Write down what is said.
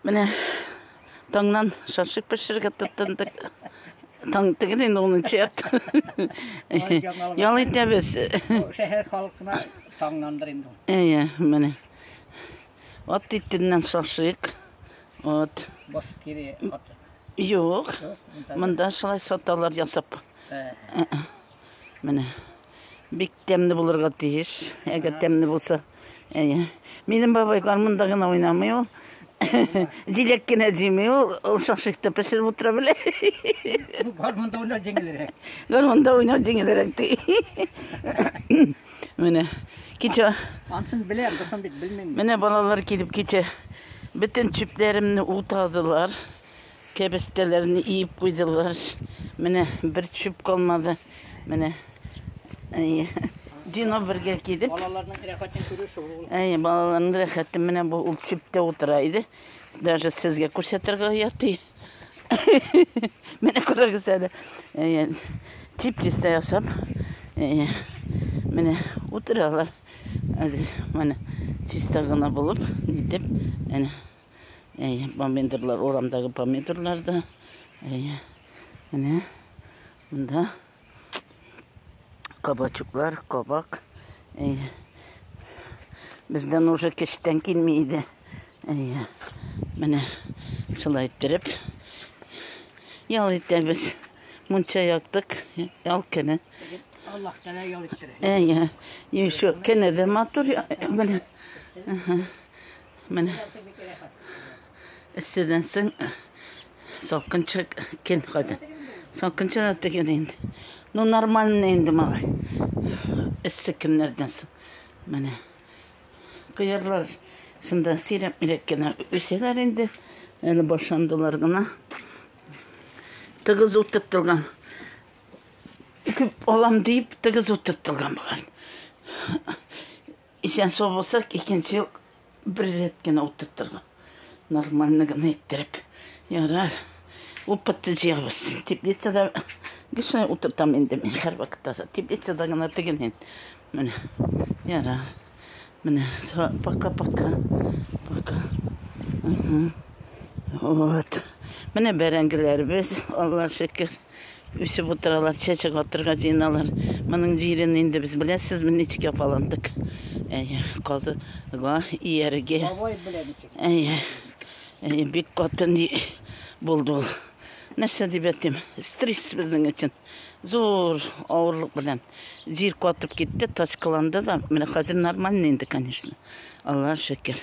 Менә таңнан шашлык пешерергә тотындык. Таң түгел инде унынчы ярты. Ял итәбез. Шәһәр халкына таңнандыр инде. Әйе, менә. Ат итеннән шашлык. Вот. Бос кире ат. Юк. Монда шулай саталар ясап. Ә. Менә. Бик тәмле булырга тиеш. Әгәр тәмле булса. Әйе. Минем бабай гармунда гына уйнамый ул. Җиләк кенә җимей ул. Ул шашикта пешереп утыра белә. Гармунда уйнау җиңелрәк. Гармунда уйнау җиңелрәк ди. Менә. Кичә. Ансын беләм, бысын бит белмим. Менә балалар килеп кичә бөтен чүпләремне утадылар. Кәбестәләрне иеп куйдылар. Менә бер чүп калмады. Менә. Әйе. Дино бергә кидеп. Балаларның рәхәтен күрү шул ул. Әйе, балаларның рәхәте менә бу ул чүптә утыра иде. Даже сезгә күрсәтергә яти. Менә күрәгез әле. Әйе. Тип-тистә ясап. Әйе. Менә утыралар. Әзер менә чиста гына булып, нитеп, әнә. Әйе, помидорлар, урамдагы помидорлар да. Әйе. Менә монда кабачуклар, кабак. Әйе. Бездән уже кечтән килми иде. Әйе. Менә шулай иттереп ял итәбез. Мунча яктык, ял көне. Аллаһ тәлә ял иттерә. Әйе. Еще кене дә матур. Менә. Ага. Мен эсседән соң салкынча кен хәзер. Салкынча да тегән инде. Ну нормально инде малай. Эссе кемнәрдән соң. Менә. Кыярлар шунда сирәк мирәк кенә үсәләр инде. Әле башландылар гына. Тыгыз утып торган. Күп алам дип тыгыз утып торган булган. Исән сау булсак, икенче ел бер рәт кенә утыртырга. Нормально гына иттереп. Ярар. Опытты җыябыз. Теплицада гешне утыртам инде мин һәр вакытта. Теплицада гына теген ин. Менә. Ярар. Менә. Пока-пока. Пока. Вот. Менә бәрәңгеләребез, Алла шөкер. Үсеп утыралар, чәчәк атырга җыеналар. Моның җирен инде без беләсезме, ничек яфаландык. Әйе, казыга ияргә. Бабай белән ничек? Әйе. Әйе, бик каты ни булды ул. Нәрсә дип әйтим? Стресс безнең өчен. Зур авырлык белән җир катып китте, тачкаланды да. Менә хәзер нормально инде, конечно. Аллаһ шөкер.